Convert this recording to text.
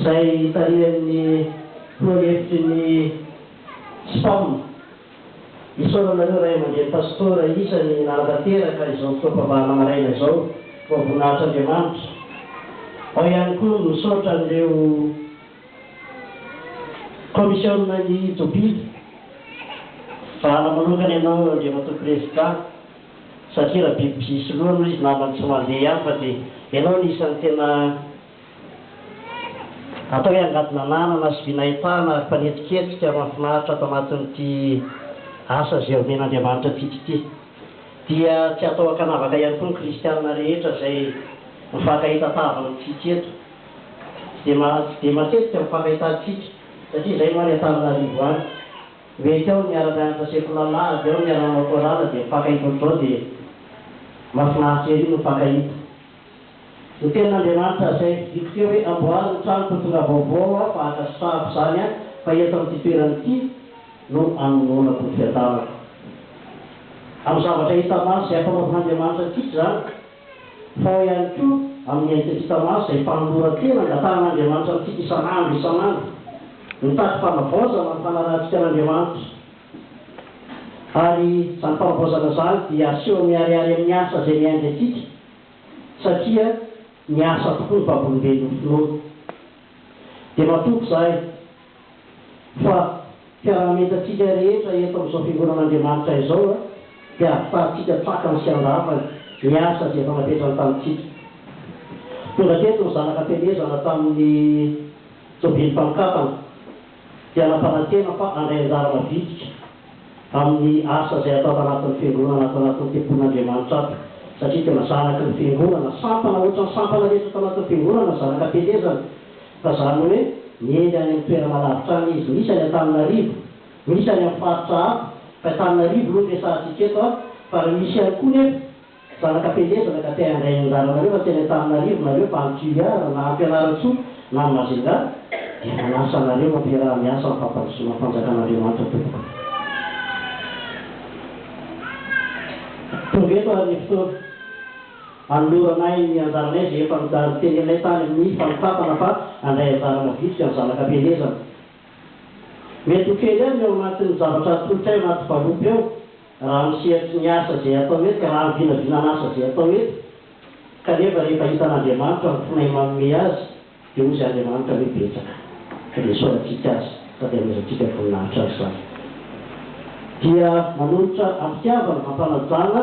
izay tarihan'ny filoham-befitry ny Spam. Isaorana anareo ray aman-dreny pastora isany nanatanteraka izao fotoam-pambahana maraina izao. Voavoninahitr'Andriamanitra. Ao ihany koa ny misaotra an'ireo kaomisiona ny tobily. Vahana manokana ianao Andriamatoa Prezidà. Satria raha biby misy loha aloha izy namany tsy mandeha ihany fa dia ianao no isan'ny tena atao hoe angady nananana sy vy nahitana ary mpanetiketika mahafinaritra ato anatin'ity asa izay omen'Andriamanitra antsika ity. Dia tsy atao ankanavaka ihany koa ny kristiana rehetra izay mifankahita tava amintsika eto. Tsy dia tsy dia matetika ny mifakahita antsika satria izay no any Antananarivo any. Mety aho niara-nianatra sekolala avy eo niara-nanao chorale dia mifankahita ohatr'izao dia mahafinaritra ery ny mifankahita. Ny tenin'Andriamanitra zay didiako teo hoe amboary ny tranoko tonga vaovao aho fa ankasitrahako izany an fa eto amin'ity toerana ity no anononako ny fiadanako amin'ny zavatra hita maso izay ampanaovin'Andriamanitra antsika izany. Tao ihany koa amin'ny Antikristamaso izay fanoloran-tena angatahan'Andriamanitra amintsika isan'andro isan'andro, mitady fanavaozana ny fanarahantsika an'Andriamanitra. Ary izany fanavaozana izany dia aseho miharihary amin'ny asa izay miainga antsika, satria miasa tokoa ny vavolombelon'ny finoana. Dia matoky izahay. fa mpiara-mientantsika rehetra eto amin'izao fiangonan'Andriamanitra izao dia ahafantsika tsakany sy andavany ny asa izay efa napetrany tamintsika. Tonga teto ny zanaka am-pielezana tamin'ny tobilim-panokafana dia nampanantena fa handray anjara mavitrika amin'ny asa izay atao ato anatin'ny fiangonana ato anatin'ny tempolin'Andriamanitra ato satria tena zanaky ny fiangonana, sampana ohatran'ny sampana rehetra ato anatin'ny fiangonana ny zanaka am-pielezana. Fa zany hoe miely any amin'ny toerana lavitra any izy. Misy any Antananarivo, misy any amin'ny faritra hafa, fa Antananarivo aloha no resahantsika eto an! Fa raha misy ihany koa nefa zanaka am-pielezana ka te handray ny anjaranareo fa tsy any Antananarivo nareo fa any Toliara na any Fianarantsoa na any Majunga dia manasa anareo hampiaraha miasa amin'ny fampandrosoana ny fanjakan'Andriamanitra tompoko. Tonga eto ary ny fotoana. Anoloranay ny anjaranay izay efa noteneninay tany amin'ny fanompatana fa handray anjarana vitsy amin'ny zanak'ampielezana. Mety ho kely ihany ny ao anatin'ny zavatra atolotray ao anaty valopy ao raha amin'ny sehatry ny asa izay atao eto, raha amin'ny vinavinan'asa izay atao eto, kanefa rehefa hitan'Andriamanitra ny fonay manome azy dia hozy Andriamanitra hoe betsaka ka dia isaorantsika Azy sady hanomezantsika voninahitra Azy izany. Dia manolotra am-pitiavana, am-panajana,